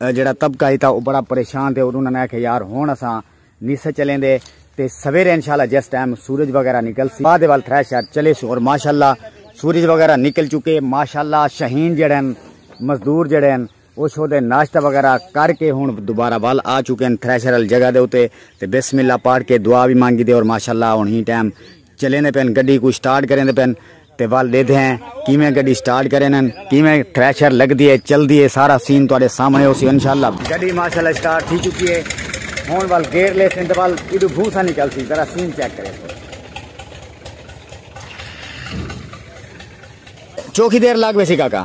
جیڑھا طبقہ ہی تاں او بڑا پریشان تھے اور انہاں نے آکھیا یار ہن اساں نی سے چلیندے تے سویرے انشاءاللہ جس ٹائم سورج وغیرہ نکلسی بعد ول تھرے شہر چلیسوں اور ماشاءاللہ سورج وغیرہ نکل چکے ماشاءاللہ شاہین جیڑھے ہن مزدور جیڑھے ہن او شودے ناشتہ وغیرہ کر کے ہن دوبارہ ول آ چکے ہن تھرے شہر والی جگہ دے اتے تے بسم اللہ پڑھ کے دعا وی مانگی دے اور ماشاءاللہ ہن ہی ٹائم چلیندے پن گڈی کو سٹارٹ کریندے پن تے ول ڈیدھے ہیں کیویں گڈی سٹارٹ کرے نن کیویں ٹریشر لگ دیے چل دیے سارا سین تواڈے سامنے ہو سی انشاءاللہ گڈی ماشاءاللہ سٹارٹ تھی چکی ہے ہن ول گیئر لے سن تے ول ایڈو بھوسا نکل سی ذرا سین چیک کرے چوکی دیر لگ ویسی کاکا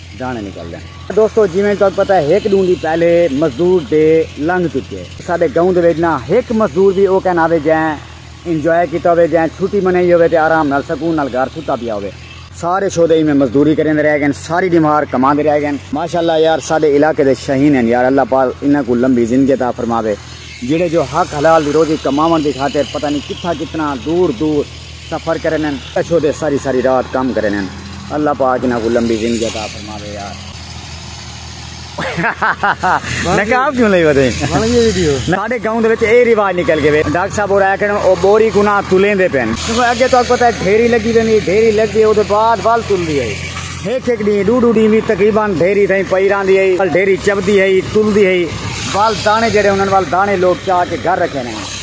داݨے نکلدن۔ دوستو جیویں تہاکوں پتہ ہے ہک ݙوں دی پہلے مزدور ڈے لنگھ چکے۔ ساݙے گاؤں دے وچ نہ ہک مزدور وی او کائنا ہووے جئیں انجوائے کیتا ہووے جئیں چھٹی منائی ہووے تے آرام نال سکون نال گھر ستا پیا ہووے۔ سارے شودے ایویں مزدوری کریندے رہ گئن ساری ݙیمہار کماندے رہ گئن۔ ماشاءاللہ یار ساݙے علاقے دے شاہین ہن یار اللہ پاک انہاں کوں لمبی زندگی عطا فرماوے جیڑھے جو حق حلال دی روزی کماوݨ دی خاطر پتہ نی کتھاں کتنا دور دور سفر کرن ہن۔ کچھو تے ساری ساری رات کم کرن ہن۔ اللہ پاک انہاں کوں لمبی زندگی عطا فرماوے یار۔ نقاب کیوں لئی ودے۔ ساڈے گاؤں دے وچ اے رواج نکل گئے۔ ڈاکٹر صاحب ہور آکھن او بوری کوں نہ تولیندے پن۔ اگے تہاکوں پتہ ہے ڈھیری لگی ویندی ڈھیری لگ گئی اودے بعد ول تلدی ہئی۔ ہک ہک ڈینہہ ڈو ڈو ڈینہہ وی تقریبا ڈھیری تئیں پئی راہندی ہئی۔ ڈھیری چبدی ہئی تلدی ہئی۔ ول دانے جیڑھے انہاں ول دانے لوک چا کے گھر رکھیندے ہن۔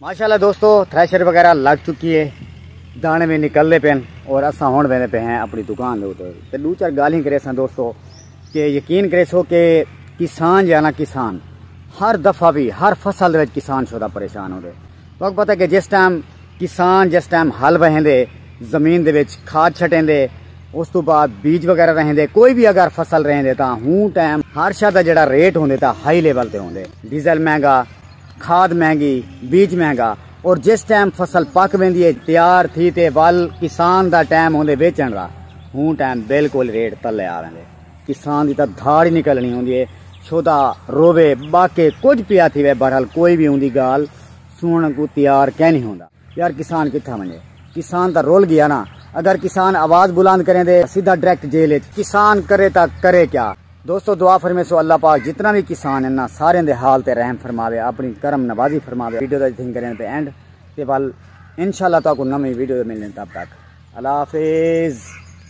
ماشاءاللہ دوستو تھریشر وغیرہ لگ چکی ہے دانے میں نکل دے پین اور اساں ہون بیندے پہ ہیں اپنی دکان دے اوتے تے دو چار گالیں کرے سن دوستو کہ یقین کرے سو کہ کسان جانا کسان ہر دفعہ بھی ہر فصل وچ کسان شودا پریشان ہوندے وقت پتہ کہ جس ٹائم کسان جس ٹائم حل وہندے زمین دے وچ کھاد چھٹیں دے اس تو بعد بیج وغیرہ رہیں دے کوئی بھی اگر فصل رہیں دے تا ہوں ٹائم ہر شاہ دا جڑا ریٹ ہوندے تا ہائی لیول تے ہوندے ڈیزل مہنگا کھاد مہنگی، بیج مہنگا اور جس ٹائم فصل پک ویندی ہے تیار تھی تے ول کسان دا ٹائم ہوندے ویچݨ دا ہوں ٹائم بالکل ریٹ تلے آ ویندے کسان دی تاں دھاڑ ہی نکلݨی ہوندی ہے چھودا رووے ٻاکے کجھ پیا تھیوے بہرحال کوئی وی اوندی ڳالھ سݨݨ کوں تیار کینی ہوندا۔ یار کسان کتھاں ونڄے کسان تاں رل ڳیا نا اگر کسان آواز بلند کریندے سیدھا ڈریکٹ جیل اچ کسان کرے تاں کرے کیا۔ دوستو دعا فرمیسو اللہ پاک جتنا بھی کسان ہیں نا سارے دے حال تے رحم فرماوے اپنی کرم نوازی فرماوے ویڈیو دا جتھیں کریں تے اینڈ تے ول انشاءاللہ تاکو نمی ویڈیو دے ملنے تب تک اللہ حافظ